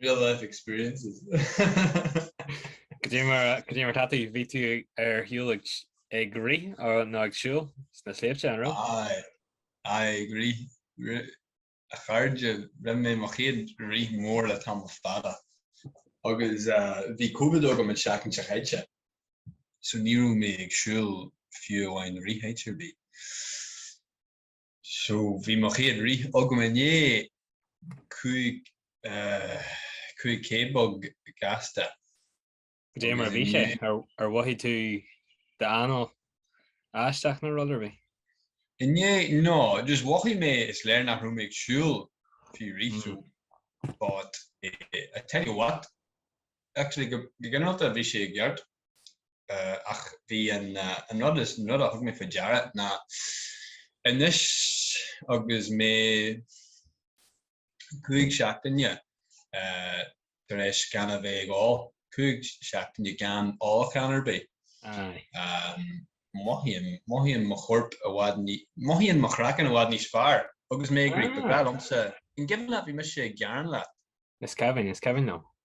Real life experiences. Goidé mar goidé mar tá tú bhí tú ar shiúl ag ag rith ó nó ag siúl sna sléibhte an raibh? Aye, aye ag rith, rith, a chairde, rinne mé mo chéad rith mór le tamall fada agus eh, bhí Covid agam an seachtain seo chaite so ní raibh mé ag siúl fiú amháin rith áit ar bith. So bhí mo chéad rith agam inné, cúig, eh, cúig k beag gasta. Goidé mar a bhí sé, ar, ar mhothaigh tú d'anáil aisteach nó rud ar bith? Inné, no, just mhothaigh mé is léir nach raibh mé ag siúl fiú rith, so, but, eh, I tell you what, Actually, go ginearálta, bhí sé i gceart. Ach bhí an rud is, an rud a thug mé faoi deara ná, anois agus mé cúig seachtaine tar éis gan a bheith ag ól, cúig seachtaine gan ólachán ar bith, mothaím, mothaíonn mo chorp i bhfad ní, mothaíonn mo chraiceann i bhfad níos fearr agus mé ag rith. Ba bhreá liomsa, an cuimhin leat bhí mise ag gearán leat. Is cuimhin, is cuimhin liom.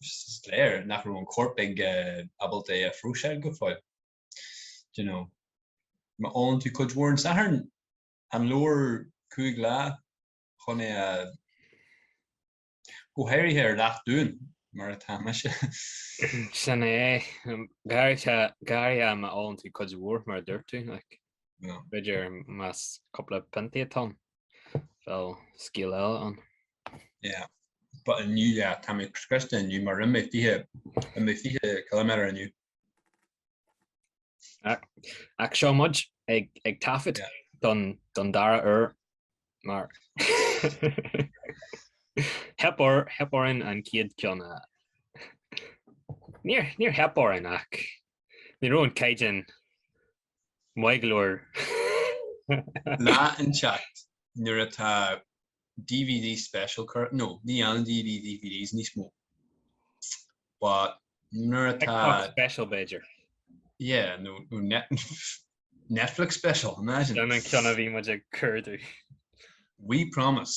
is léir nach raibh an corp ag ábalta é a phróiseáil go fóill. Do you know, má ólann tú cuid mhór an Sathairn, an leor cúig lá chun é a, go háirithe ar leacht dúinn mar atá mise? Sin é, go háirithe má ólann tú cuid mhór mar a dúirt tú, like, b'fhéidir más cúpla piontaí atá ann. Bheadh scéal eile ann. Yeah. But inniu, yeah, tá mé scriosta inniu, mar rinne mé fiche, rinne mé fiche kilometer inniu. Ach seo muid ag, ag taifead Yeah. don, don dara uair mar theip ar theip orainn an céad ceann a Níor níor theip orainn ach ní raibh an caighdean Maith go leor. Lá inteacht nuair atá dvd special current no níl aon dvd DVDs níos mó but nuair atá special B'fhéidir yeah no no net Netflix special imagine an ceann a bhí muid curú we promise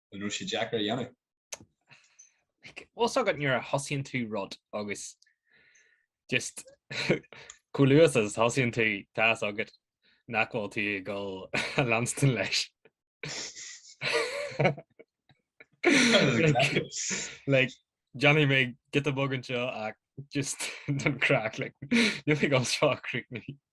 an raibh sé deacair a dhéanamh? Like, tá a fhios agat nuair a thosaíonn tú rud agus just chomh luath is a thosaíonn tú tá a fhios agat nach bhfuil tú ag dul a leanstan leis. like, déanfaidh mé giota beag anseo ach just don craic like, níl ag dul seo a chríochnú.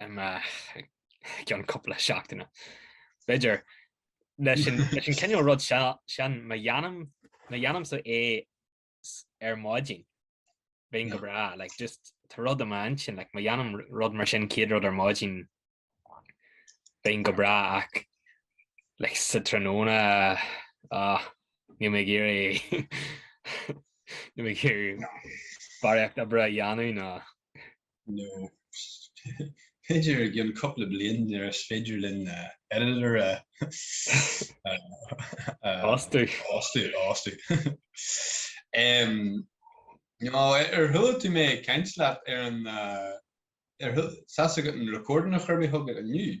amach i gceann cúpla seachtaine. B'fhéidir, leis an cineál rud seo sin, má dhéanaimse é ar maidin, bheinn go breá like just tá rud i m'intinn like, má dhéanaim rud mar sin, chéad rud ar maidin, bheinn go breá ach like sa tráthnóna, níl mé ag iarraidh barraíocht oibre a dhéanamh ná nó b'fhéidir i gcionn cúpla bliain nuair is féidir linn Editor a fhostú. No, ar thuill tú mé ag caint leat ar an. ar an. seans agat an recording a chur mé chugat inniu?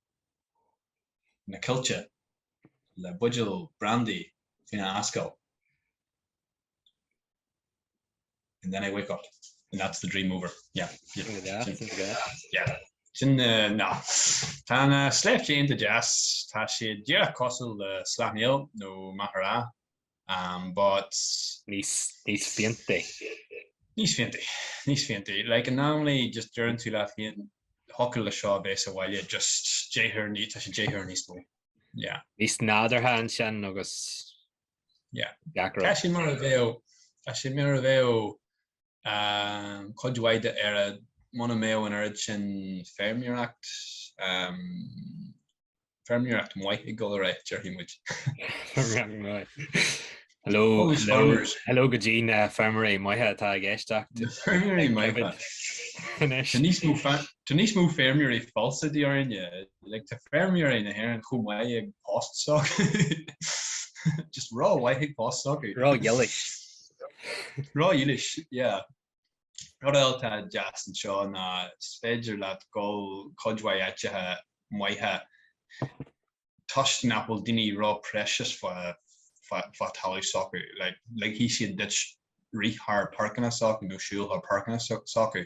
na coillte le buidéal brandaí faoina ascaill and then I wake up. And that's the dream over. Yeah. Sin é, sin é. Yeah. Sin, no. Tá na sléibhte iontach deas. Tá siad díreach cosúil le slaithnéil nó machaire. but. níos fiáinte. níos fiáinte. níos fiáinte. Like normally just deireann tú leat féin thiocfadh leis seo a bheith sa bhaile just deich uair, tá sé deich uair níos mó. Yeah. níos nádúrtha ansin agus. Yeah. gach rud. Tá sé mar a bheadh, tá sé mar a bheadh cuid mhaith d'Éirinn, muna mbeadh an oiread sin feirmeoireacht, Feirmeoireacht maith ag dul ar aghaidh, déarfaidh muid. Feirmeoireacht maith. Hello, hello go dtí na feirmeoirí maithe atá ag éisteacht. Na feirmeoirí maithe. Tá níos mó feirmeoirí falsa de dhíth orainne. Like, tá feirmeoirí na hÉireann chomh maith ag post s'acu. Just rómhaith ag post s'acu. Ródhílis. Ródhílis, yeah. Rud eile atá deas anseo ná is féidir leat dul cuid mhaith áiteacha maithe toisc nach bhfuil daoine ró-precious fá talamh s'acu. Ligfidh siad duit rith thar páirceanna s'acu nó siúl thar páirceanna s'acu.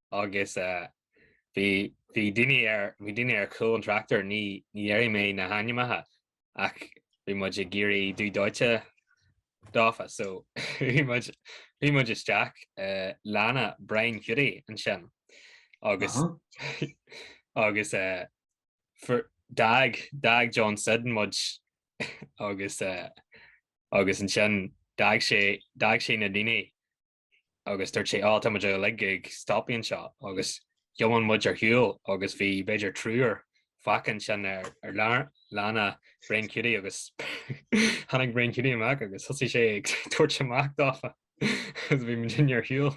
agus bhí daoine ar chúl an tráchtair, ní déarfaidh mé na hainmneacha, ach bhí muid ag éirí dubh dóite dófa, so bhí muid, bhí muid isteach i lána Brian Cutie ansin agus agus d'fhág, d'fhág John Syddan muid agus agus ansin d'fhág sé, d'fhág sé na daoine, agus dúirt sé, 'Á, tá muid uilig ag stopadh anseo agus tiomáin muid ar shiúl, agus bhí b'fhéidir triúr fágtha ansin ar lána Brain Cutie agus tháinig Brain Cutie amach agus thosaigh sé ag tabhairt amach dáfa agus bhí muid muidinne ar shiúl.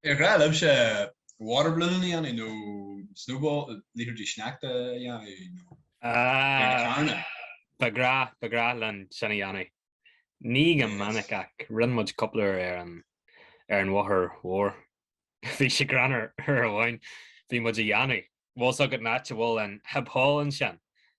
Ar ghnách libhse waterballoon a dhéanamh nó snowball, liathróidí sneachta a dhéanamh nó ar na carranna? Ba ghnách, ba ghnách linn sin a dhéanamh. Ní go minic ach rinne muid cúpla uair ar an, ar an bhóthar mhór. Bhí sé greannmhar uair amháin, bhí muid a dhéanamh, bhfuil 's agat an áit a bhfuil an Hib Hall ansin?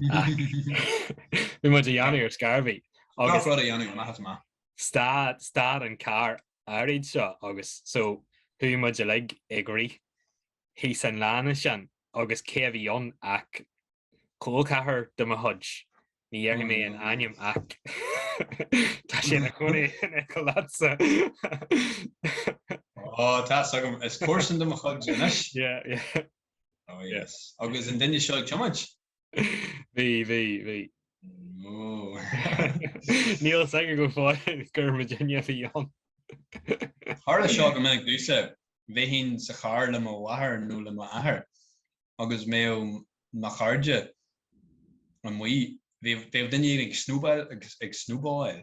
Bhí muid a dhéanamh ar scairbhí. Agus rud a dhéanamh maith is maith. Stad, stad an carr áirid seo agus so chuaigh muid uilig ag rith thíos an lána ansin agus cé a bhí ann ach col ceathrair de mo chuid. Ní dhéarfaidh mé an ainm ach tá sé ina chónaí in aice leatsa. Ó, tá 's agam, is comharsan de mo chuid anois. Yeah, yeah. Oh yes. Agus an duine seo ag tiomáint? Bhí, bhí, bhí. Oh. Níl 's aige go fóill gur muidinne a bhí ann. Tharla seo go minic domhsa. Bheinn sa charr le mo mháthair nó le m'athair agus bheadh mo chairde amuigh. Bheadh duine éigin ag snowball, ag snowball.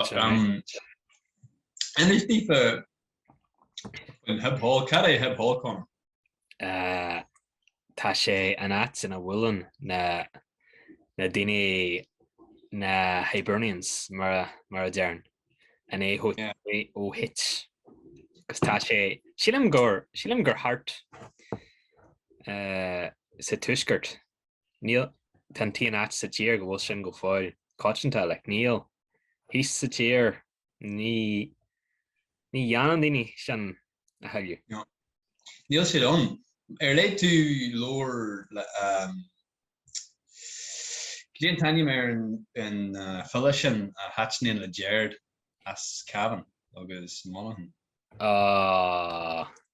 Anois na daoine i Hib Hall, cad é Hib Hall, Conor? Tá sé an áit ina bhuaileann na daoine na Hibernians mar a deireann, an AOH. Agus tá sé, sílim gur, sílim gur thart sa tuaisceart. Níl. Tá an t-aon áit sa tír go bhfuil sin go fóill coitianta, like, níl. Thíos sa tír, ní, ní dhéanann daoine sin a thuilleadh. No. Níl siad ann. Ar léigh tú leabhar le, ehm, cad é an t-ainm ar an, an file sin a thaitníonn le Gerard as Cavan agus Monaghan? Ahh.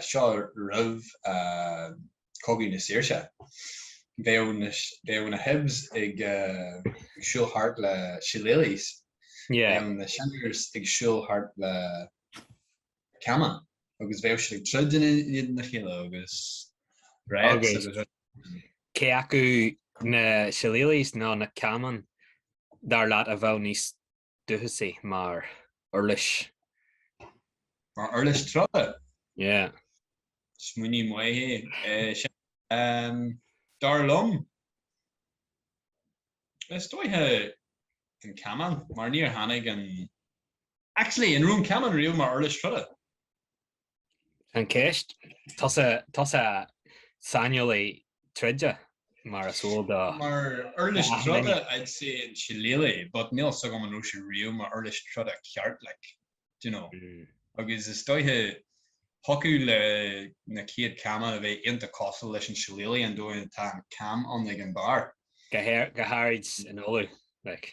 seo roimh Chogadh na Saoirse. Bheadh na Hibs ag siúl thart le Shillelaghs, bheadh na Shinners ag siúl thart le Caman agus bheadh siad ag troid in éadan a chéile agus Reds agus rud éigin. Cé acu na Shillelaghs nó na Caman, dar leat, a bheadh níos dúchasaigh mar uirlis. Mar uirlis troda? Yeah. Smaoineamh maith é sin. Dar liom, is dóiche an camán, mar níor tháinig an. Actually, an raibh an camán riamh mar uirlis troda? An cheist, tá tusa saineolaí troide, mar is eol dúinn. Mar uirlis troda, I'd say an Shillelagh, but níl fhios agam an raibh sé riamh mar uirlis troda ceart, like, do you know. Agus is dóiche, thiocfadh le na céad camán a bheith ionta cosúil leis an Shillelagh an dóigh a dtá an cam ann ag an bharr. Go háirid in Uladh, like.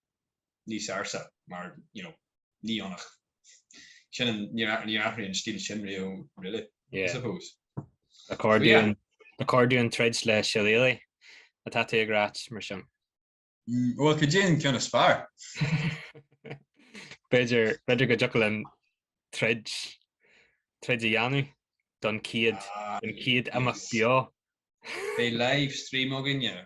níos ársa mar you know ní fhanfadh sin an, níor athraigh an stíl sin riamh really I suppose. Accordion, accordion troid le siléalaí atá tú ag rá mar sin. Bhuel cad é an ceann is fearr? B'fhéidir, b'fhéidir go dtiocfadh linn troid, troid a dhéanamh don chéad, don chéad imeacht beo. Beidh live stream againne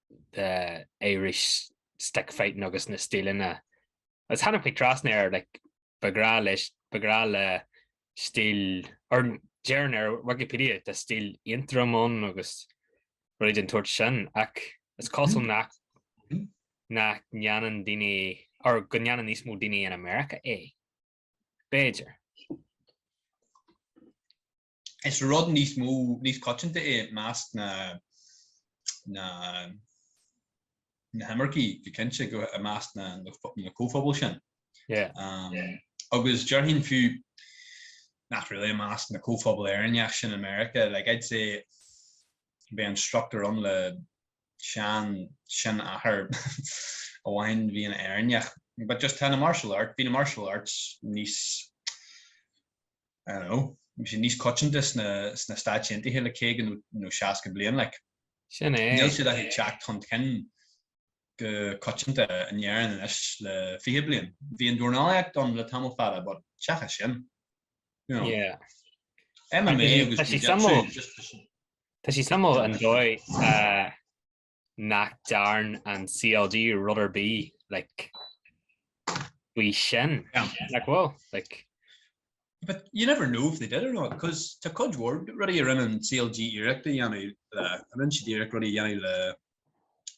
the Irish stick fighting agus na stíleanna agus tháinig mé trasna air like ba ghrá leis ba ghrá le stíl or deireann ar Wikipedia tá stíl Aontroim ann agus rudaí den tsórt sin ach is cosúil nach nach ndéanann daoine or go ndéanann níos mó daoine in America é. B'fhéidir. Is rud níos mó, níos coitianta é i measc na, na, na himircigh, go cinnte, go, i measc na, na comhphobail sin. Agus déarfainn fiú, not really, i measc na comhphobail Éireannacha sin i Meiriceá, like, I'd say, beidh instructor ann le sean, seanathair amháin, bhí ina Éireannach, but just tá na martial art, bhí na martial arts níos, bhí sé níos coitianta sna Stáit Aontaithe le caoga nó seasca bliain. Níl siad ach ag teacht chun cinn go coitianta in Éirinn anois le fiche bliain. Bhí an dornálaíocht ann le tamall fada but seachas sin, you know, MMA agus jiu-jitsu. Tá sí suimiúil an dóigh a. nach dtearn an CLG rud ar bith like, faoi sin. Yeah. Like, well, like, But you never know if they did or not, because tá cuid mhór rudaí a rinne an CLG iarracht a dhéanamh le, a rinne siad iarracht rudaí a dhéanamh le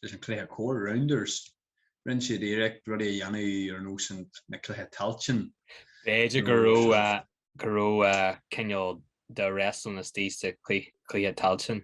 leis an cluiche corr, rounders, rinne siad iarracht rudaí a dhéanamh ar nós an- na Cluichí Tailteann. b'fhéidir go raibh, uh, go raibh uh, cineál de wrestling istigh sna clui- Cluichí Tailteann.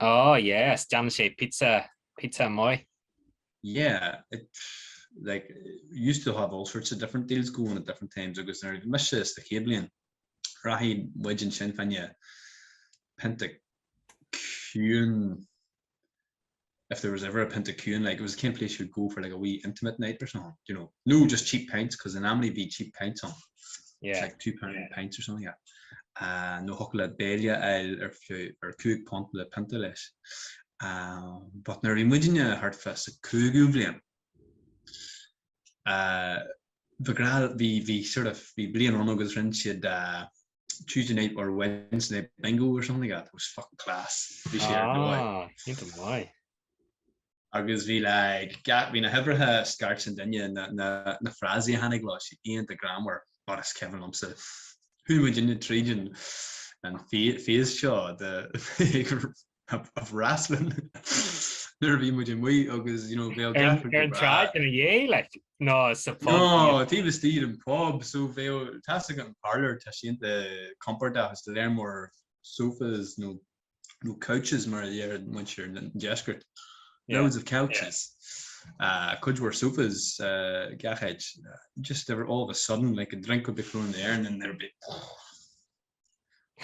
Oh yes, déanann sé pizza, pizza amuigh. Yeah, it like used to have all sorts of different deals going at different times agus nuair a bhí mise sa chéad bhliain rachaidh muid ansin faoina pint a ciúin if there was ever a pint a ciúin like it was the kind of place you would go for like a wee intimate night or something, you know, nó just cheap pints 'cause in Amity bhí cheap pints ann. like two pound pints or something like that, uh, nó thiocfadh leat béile a fháil ar fiú ar cúig phunt le pionta leis. Um, but nuair a bhí muidinne thart fá sa cúigiú bliain, uh, ba ghnách, bhí, bhí sort of, bhí bliain ann agus rinne siad, uh, Tuesday night or Wednesday night bingo or something like that, it was fucking class, bhí sé ar dóigh. Ah, iontach maith. agus bhí like gach, bhí na huimhreacha scairt an duine, na, na frásaí a tháinig leo, so iontach greannmhar, but is cuimhin liomsa chuaigh muidinne tríd an an phase seo de of wrestling nuair a bhí muid amuigh agus you know bhí gach rud go breá. Ar an tsráid ina dhiaidh like nó sa phub? No, taobh istigh den phub, so bhí, tá a fhios agat an Parlour, tá sé iontach compordach, is lear mór sofas nó nó couches mar a dhéarfadh muintir an deiscirt, loads of couches, cuid mhór sofas, gach áit, just they were all of a sudden like a drink would be thrown in the air and then there'd be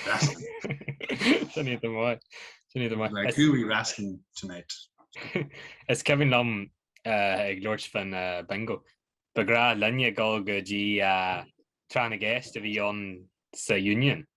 wrestling. Sin iad amháin. Sin iad amháin. Like who are we wrestling tonight? Is cuimhin liom ag labhairt fán bingo. Ba ghnách linne dul go dtí tráth na gceist a bhí ann sa Union.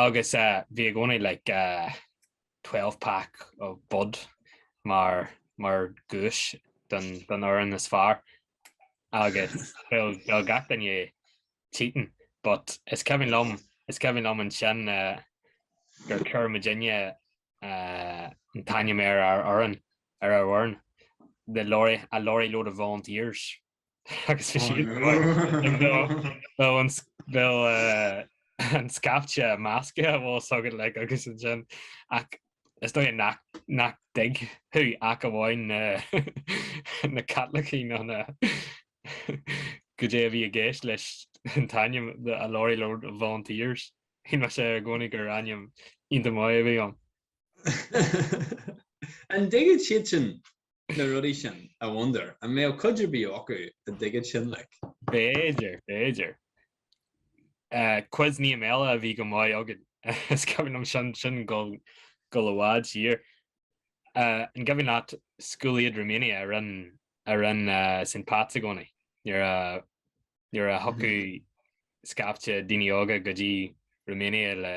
agus bhí i gcónaí like twelve pack of bud mar dhuais don fhoireann is fearr agus bheadh gach duine cheating but is cuimhin liom, is cuimhin liom ansin gur chuir muidinne an t-ainm ar ár fhoireann, ar ár bhfoireann, the lorry, a lorry load of volunteers. agus is iad bheadh an scaifte measctha an bhfuil a fhios agat like agus ansin ach is dóigh nach dtuigfeadh ach amháin na Caitlicigh ann goidé a bhí i gceist leis an t-ainm a lorry load of volunteers. Shíl mise i gcónaí gur ainm iontach maith a bhí ann. An dtuigeann siad sin? na rudaí sin, I wonder, an mbeadh cuid ar bith acu a dtuigfeadh sin, like? B'fhéidir, b'fhéidir. Eh, quiz night eile a bhí go maith againn, is cuimhin liom sin, sin dhul, dhul i bhfad siar. Eh, an cuimhin leat School Aid Romania a rinn, a rinn eh, St. Pat's i gcónaí, nuair a, nuair a thiocfadh scaifte daoine óga go dtí Romania le,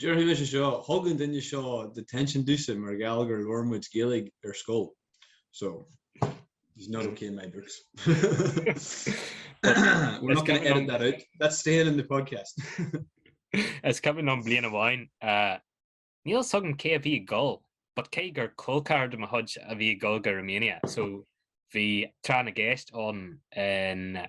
Déarfaidh mise seo, thug an duine seo detention domhsa mar gheall gur labhair muid Gaeilg ar scoil. So, he's not ok in my books. We're not going to edit that out, that's staying in the podcast. Is cuimhin liom bliain amháin, níl fhios agam cé a bhí ag gol, but cé gur col ceathrar de mo chuid a bhí ag gol go Romania, so bhí tráth na gceist ann in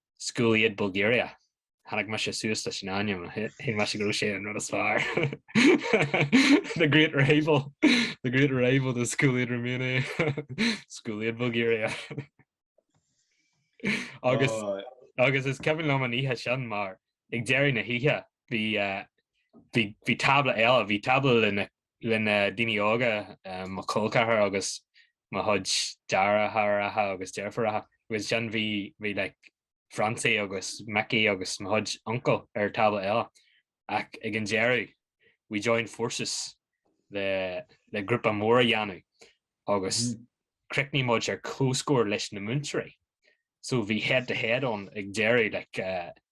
School Aid Bulgaria. Tháinig mise suas leis an ainm a shíl mise go raibh sé an rud is fearr. The great rival. The great rival to School Aid Romania. School Aid Bulgaria. Agus agus is cuimhin liom an oíche sin mar ag deireadh na hoíche bhí eh, bhí bhí tábla eile, bhí tábla le na le na daoine óga, mo chol ceathar agus mo chuid deartháireacha agus deirfiúracha, agus ansin bhí like Francie agus Mickey agus mo chuid uncal ar tábla eile, ach ag an deireadh we joined forces le le grúpa mór a dhéanamh agus chríochnaigh muid ar comhscór leis na múinteoirí so bhí head to head ann ag deireadh like,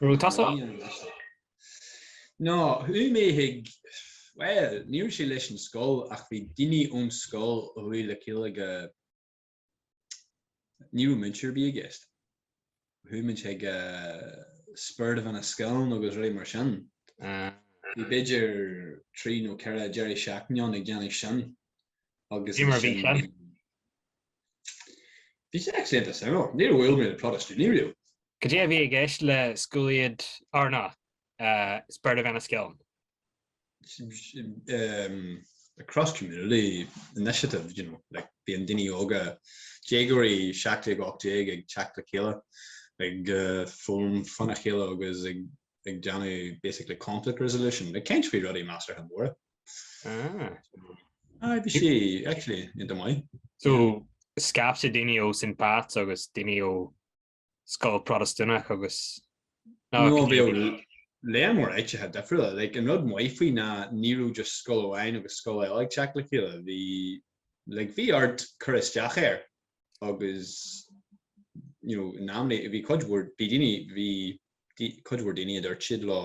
Raibh tusa ann? Bhí, anois tá. No, chuaigh mé chuig, bhuel, ní raibh sé leis an scoil ach bhí daoine ón scoil a chuaigh le chéile go, ní raibh múinteoir ar bith i gceist. Chuaigh muid chuig Spirit of Enniskillen agus rudaí mar sin. Bhí b'fhéidir trí nó ceithre deiridh seachtaine ann ag déanamh sin agus Bhí mar bhí sin. Bhí sé actually iontach suimiúil. Níor bhuail mé le Protastúnaigh riamh. Cad é a bhí i gceist le School Aid, or no, Spirit of Enniskillen? a cross-community initiative, you know, like bíonn daoine óga, déagóirí 17, 18 ag teacht le chéile, ag foghlaim fána chéile agus ag déanamh basically conflict resolution, ag caint faoi rudaí measartha móra. Ah. Aye, bhí sí actually iontach maith. So, scaifte daoine ó St. Pat's agus daoine ó scoil Protastúnach agus ná No, bhí gníomhaí. lear mór áiteacha difriúla. Like, an rud maith faoi ná ní raibh just scoil amháin agus scoil eile ag teacht le chéile. Bhí, like, bhí ort cur isteach air agus, you know, nominate, bhí cuid mhór bhí daoine, bhí cuid mhór daoine a dúirt siad leo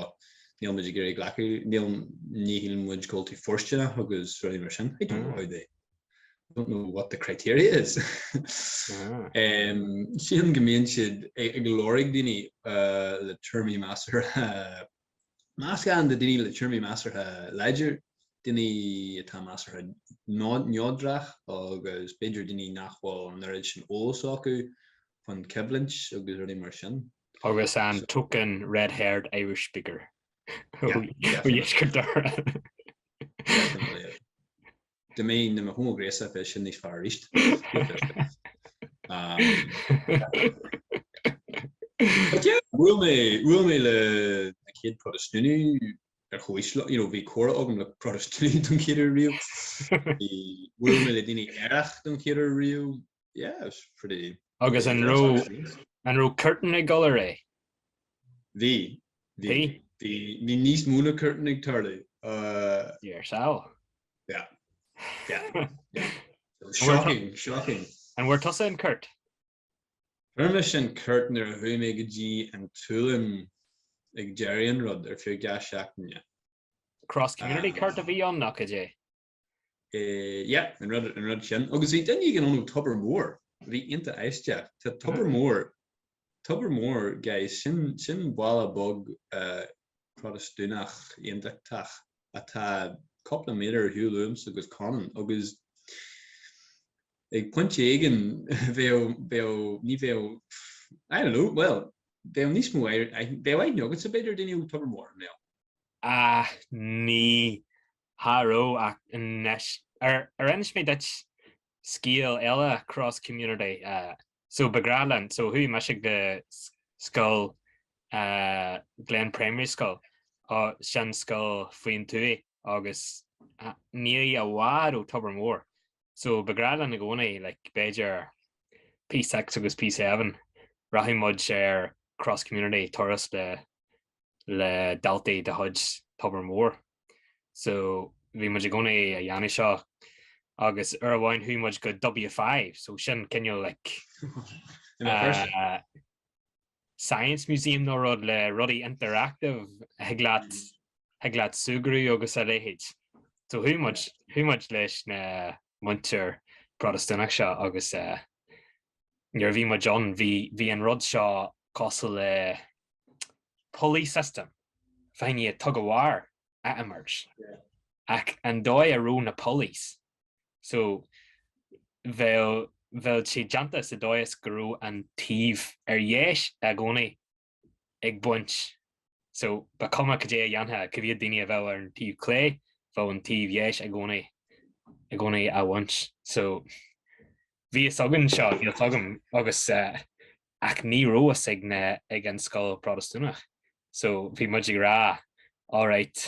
níl muid ag iarraidh glacadh, níl, ní shíl muid go bhfuil tú fóirsteanach agus rudaí mar sin, I don't know how they, I don't know what the criteria is. Sílim go mbíonn siad ag lorg daoine le tuairimí measartha, meascán de daoine le tuairimí measartha láidir, daoine atá measartha neodrach agus b'fhéidir daoine nach bhfuil an oiread sin eolais acu faoin choimhlint agus rudaí mar sin. Agus an token red-haired Irish speaker ó dheisceart Dhoire. Dá mbeinn i mo homaighnéasach bheadh sin níos fearr arís. But yeah, bhuail mé, bhuail mé le na céad Protastúnaigh ar chomhaois liom, you know, bhí comhrá agam le Protastúnaigh don chéad uair riamh, bhuail mé le daoine aerach don chéad uair riamh, Yeah, it was pretty... Agus an raibh cuairt ann ag dul ar aghaidh? Bhí. Bhí? Bhí níos mó ná cuairt ann ag tarlú. Deir seal. Yeah. Yeah. Shocking, shocking. An bhfuair tusa an cúirt? Fuair mise an cúirt nuair a chuaigh mé go dtí an tSualainn ag deireadh an rud ar feadh dhá sheachtain. Cross-community cúirt a bhí ann, nach ea? Eh, yeah, an rud, an rud sin. Agus bhí duine éigin ón Tobar Mór, a bhí iontach aisteach. Tá Tobar Mór, Tobar Mór, guys, sin, sin baile beag eh, Protastúnach aontachtach atá cúpla míle ar shiúl uaimse agus Conan, agus ag pointe éigin bheadh, bheadh, ní bheadh, pff, I don't know, bhuel, bheadh níos mó air, aith- bheadh aithne agatsa b'fhéidir ar duine ó Tobar Mór, i mBéal. Ah, ní, Cha raibh ach. Ar inis mé duit scéal eile cross community so ba ghnách linn so chuaigh mise go scoil Glen Primary School sin scoil faoin tuath agus ní i bhfad ó Tobar Mór so ba ghnách linn i gcónaí like b'fhéidir P6 agus P7 rachadh muid ar cross community turas le daltaí de chuid Tobar Mór. so bhí muid i gcónaí ag déanamh seo agus uair amháin chuaigh muid go W5 so sin cineál like science museum nó rud le rudaí interactive a thig leat mm-hmm. thig leat súgradh agus a léithéid so chuaigh muid chuaigh muid leis na muintir Protastúnach seo agus nuair a bhí muid ann, bhí an rud seo cosúil le pulley system, bheifeá tug of war a imirt ach an dóigh a raibh na pulleys, so bheadh siad déanta sa dóigh is go raibh an taobh ar dheis i gcónaí ag baint so, ba chuma cad é a dhéanfadh, cá mhéad daoine a bheadh ar an taobh clé, bheadh an taobh dheis i gcónaí i gcónaí á bhaint. So, bhí a fhios againn seo, bhí a fhios agam agus ach ní raibh a fhios ag na, ag an scoil Protastúnach. So, bhí muid ag rá, alright.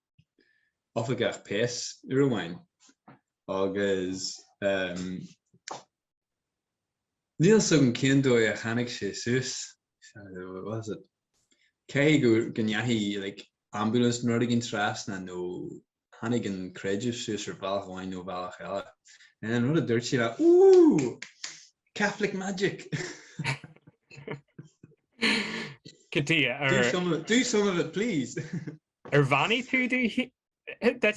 oifigeach péas uair amháin agus um níl a fhios agam cén dóigh a tháinig sé suas, what was it, caithfidh go ndeachaigh like ambulance nó rud éigin trasna nó tháinig an creideamh suas ar bhealach amháin nó bhealach eile. And then an rud a dúirt sé ná Ooh! Catholic magic! Cad é ar. Do some of it please! Ar bheannaigh tú duit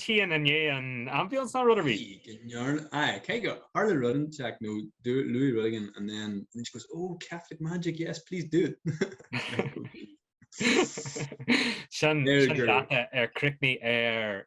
féin i ndiaidh an ambulance nó rud ar bith? Aye, go ndearna. Aye, cé gur tharla rud inteacht nó do, luaigh rud éigin and then, and then she goes, oh, Catholic magic, yes, please do it. Sin, sin leat ar chríochnaigh ar.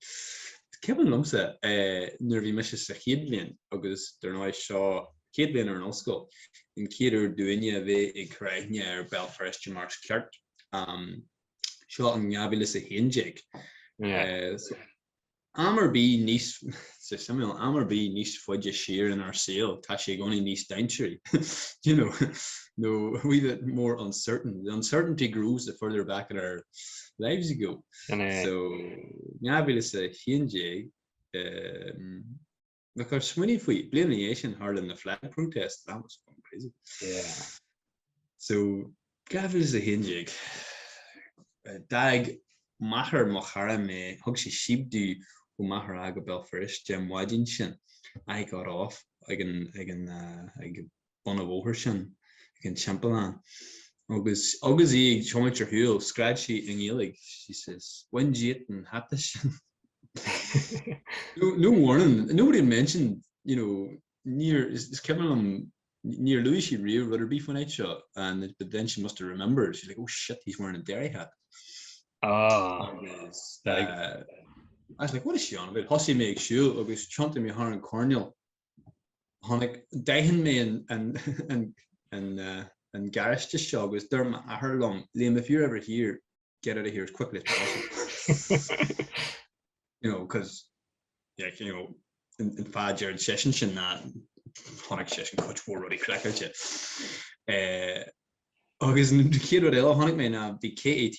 Is cuimhin liomsa nuair a bhí mise sa chéad bhliain agus dar ndóigh seo chéad bhliain ar an ollscoil, an chéad uair dúinne a bheith ag cur aithne ar Bhéal Feirste mar is ceart, seo in 2011, am ar bith níos, is suimiúil, am ar bith níos faide siar inár saol tá sé i gcónaí níos dainséaraí, you know, nó a wee bit more uncertain, the uncertainty grows the further back in our lives you go. Sin é. So, 2011, agus smaoinigh faoi. Bliain ina dhiaidh sin, tharla na flag protests, that was fucking crazy. Yeah. So, 2011, d'fhág máthair mo chara mé, thug sí síob domh ó Maghera go Béal Feirste an mhaidin sin, I got off ag an, ag an, ag, bun an bhóthair sin ag an timpeallán. Agus agus í ag tiomáint ar shiúl, scread sí i nGaeilg, she says, Bhain díot an hata sin. no warning, nobody had mentioned, you know, níor, is cuimhin liom, níor luaigh sí riamh rud ar bith faoin áit seo, and but then she must have remembered, she's like, oh shit, he's wearing a Derry hat. Ah. Agus, uh, I was like, what is she on about? Thosaigh mé ag siúl agus thiontaigh mé thar an coirnéal. chonaic, d'aithin mé an garáiste seo agus dúirt m'athair liom, Liam, if you're ever here, get out of here as quickly as possible. you know, because, yeah, you know, an, an fáth a deireann seisean sin ná chonaic seisean cuid mhór rudaí craiceáilte. agus an chéad rud eile a chonaic mé ná bhí KAT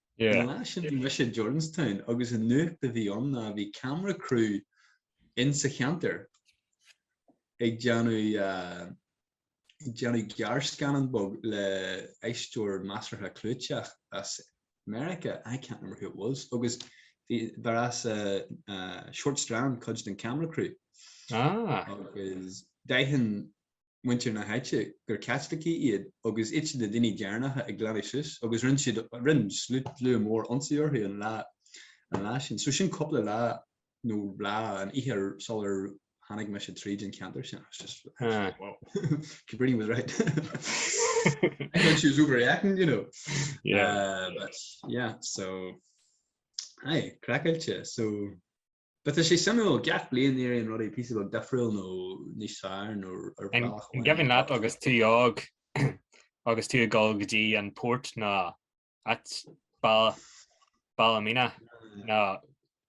An lá sin bhí mise i Jordanstown agus an nuacht a bhí ann ná bhí camera crew insa cheantar ag déanamh ag déanamh gearrscannán beag le aisteoir measartha clúiteach as Meiriceá, I can't remember who it was, agus b'as an Short Strand cuid den camera crew. Ah. Agus d'aithin muintir na háite gur Caitlicigh iad agus iad na daoine deireanacha ag glanadh suas agus rinne siad, rinne slua mór ionsaí orthu an lá, an lá sin. So sin cúpla lá nó lá, an oíche sular tháinig mise tríd an cheantar sin. I was just, ah. wow, Cabrini was right. I thought she was overreacting, you know. Yeah. Uh, but yeah, so, aye, craiceáilte, so But tá sé suimiúil, gach bliain éiríonn rudaí píosa beag difriúil nó níos fearr nó. An cuimhin leat agus tú óg agus tú ag dul go dtí an Phoirt nó áit Ballymena nó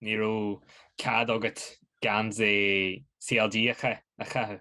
ní raibh cead agat geansaí CLG a chaitheamh?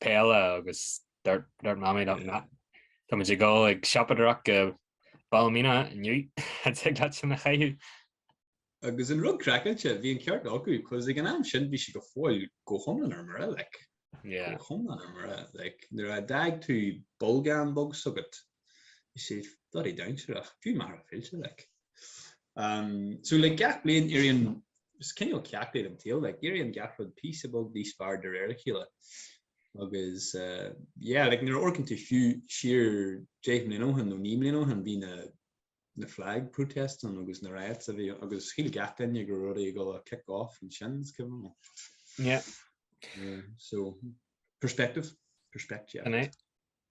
peile agus dúirt dúirt mammy dúirt na táimid ag dul ag siopadaireacht go Ballymena inniu ní thig leat sin a chaitheamh. Agus an rud craiceáilte, bhí an ceart acu, 'cause ag an am sin bhí siad go fóill go hiomlán ar mire, like, yeah, go hiomlán ar mire, like, nuair a d'fhág tú bolgán bog s'agat, bhí sé bloody dainséarach, fiú mar a bhí fillte, like. So le gach bliain éiríonn, is cineál ceacht é den tsaol, like éiríonn gach rud píosa beag níos fearr de réir a chéile. Agus yeah, like nuair a amharcann tú fiú siar deich mbliana ó shin nó naoi mbliana ó shin bhí na na flag protests ann agus na riots a bhí ann agus shíl gach duine go raibh rudaí ag dul ag kick off ansin is cuimhin liom. Yeah. So perspective, perspect yeah.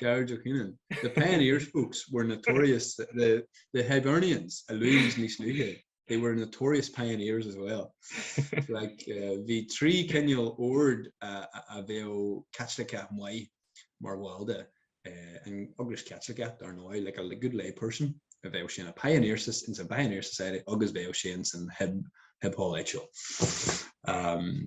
Gearóid Ó Canainn, The pioneers folks were notorious, the the Hibernians, a luaigh muid níos luaithe, they were notorious pioneers as well. like, uh, bhí trí cineál ord a, a, a bheadh Caitliceach maith mar bhall de, uh, an Eaglais Chaitliceach dar ndóigh, like a good lay person, a bheadh sé ina pioneer, in sa pioneer society agus bheadh sé in san hib, hib hall áitiúil. Um,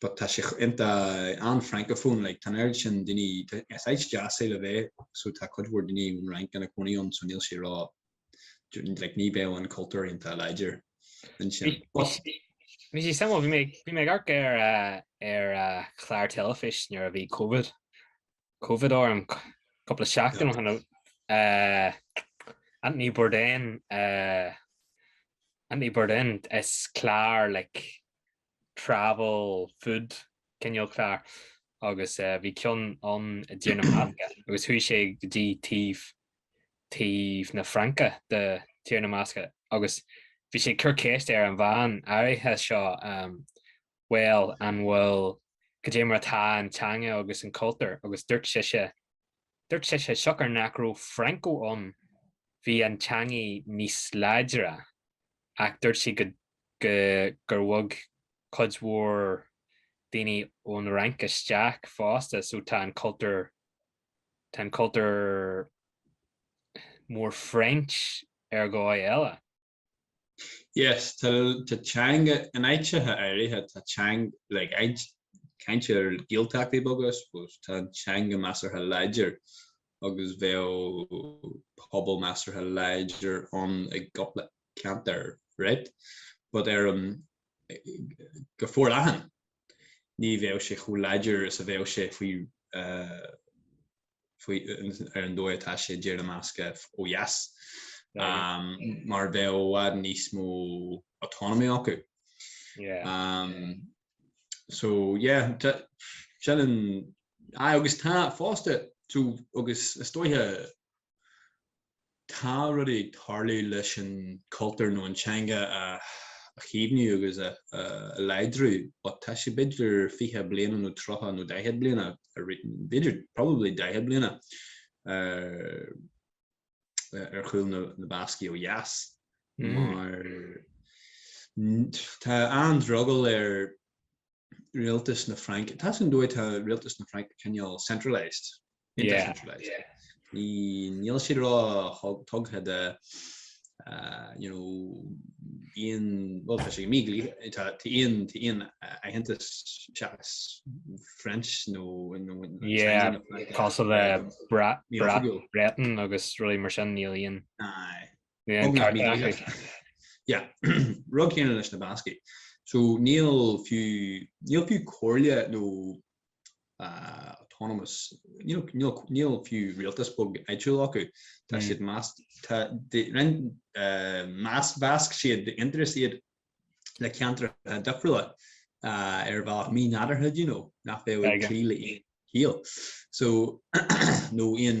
but tá sé ionta an francophone like tá an oiread sin daoine is áit deas é le bheith so tá cuid mhór daoine ón Fhrainc ina cónaí ann so níl sé ró like ní bheadh an cultúr ionta láidir ansin but. Bhí sé suimiúil, bhí mé bhí mé ag amharc ar ar chlár teilifís nuair a bhí covid covid orm cúpla seachtain ó shin Anthony Bourdain Anthony Bourdain is clár like travel, food, cineál clár agus bhí ceann ann i dTír na mBascach agus chuaigh sé go dtí taobh, taobh na Fraince de Thír na mBascach agus bhí sé ag cur ceiste ar an bhean áirithe seo, bhuel, an bhfuil, cad é mar atá an teanga agus an cultúr agus dúirt sise, Dúirt sise siocair nach raibh Franco ann bhí an teangaidh níos láidre ach dúirt sí gur bhog cuid mhór daoine ón Fhrainc isteach fosta so tá an cultúr tá an cultúr mór French ar dhóigh eile. Yes, tá teanga in áiteacha áirithe, tá teanga, like, ag caint ar Gaeltachtaí beaga, I suppose, tá an teanga measartha láidir agus bheadh pobal measartha láidir ann i gcúpla ceantar, right? But ar an, go forleathan, ní bheadh sé chomh láidir is a bheadh sé faoi, ar an dóigh atá sé do na Bascaigh ó dheas, mar bheadh i bhfad níos mó autonomy acu. So, yeah, sin an, aye, agus tá fosta, so, agus is dóiche, tá rudaí ag tarlú leis an chultúr nó an teanga a chaomhnú agus a láidriú but tá sé b'fhéidir fiche bliana nó tríocha nó daichead bliana b'fhéidir probably daichead bliana ar chúl na Bascaigh ó dheas hmm. mar tá an drogall ar Rialtas na Fraince, tá an dóigh tá Rialtas na Fraince cineál centralised, níl siad róthugtha de you know bíonn bhuel tá sé mídhleathach tá aon tá aon aitheantas seachas French nó 'cause bheadh Breton agus rudaí mar sin níl aon Rud céanna leis na Bascaigh. So níl fiú, níl fiú comhairle nó autonomous, níl fiú rialtas beag áitiúil acu. Tá siad, measc, roinn, mheasc siad d'aon turas iad le ceantracha difriúla ar bhealach mínádúrtha, do you know, nach bhféadfadh cloí le haon chiall. So nó aon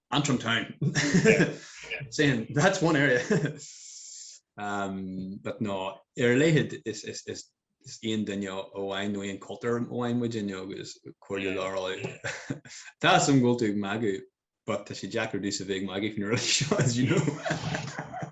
Antrim town. Saying, that's one area. um, but no, ar a laghad is, is, is, is aon duine amháin nó aon cultúr amháin muid inniu agus cairde ar ndóigh. Tá, is, ag dul den mhagadh, but tá sé deacair dúinn a bheith ag magadh faoin rud seo, as you know.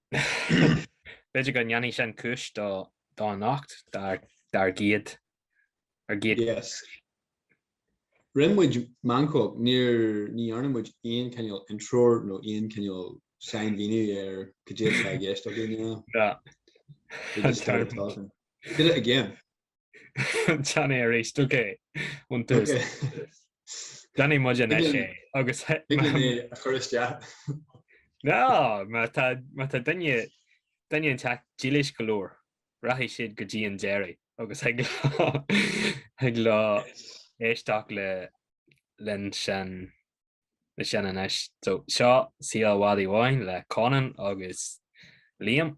B'fhéidir go ndéanfaidh sin cúis d'anocht, dár gcéad, ár gcéad. Yes. Rinne muid meancóg, ní dhearna muid aon cineál intro nó aon cineál sainmhíniú ar caidé atá i gceist againn. Yeah. We just started talking. Did it again. Déanfaidh a réiteach ón tús. Déanfaidh muid anois é agus a chur isteach. Ná, má tá duine duine an teach dílis go leor, rachaidh siad go dtí an deiridh agus ag lá ag lá éisteacht le leis sin le sin anois. So seo Saol Mhadaidh Bháin le Conan agus Liam.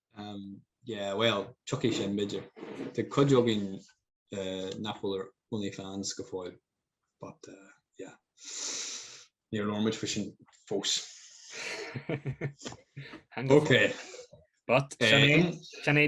Um, yeah, well, tiocfaidh sin, b'fhéidir. Tá cuid againn nach bhfuil ar OnlyFans go fóill, but, uh, yeah. Níor labhair muid faoi sin fós. Hang up. Okay. But, Eh. sin é, sin é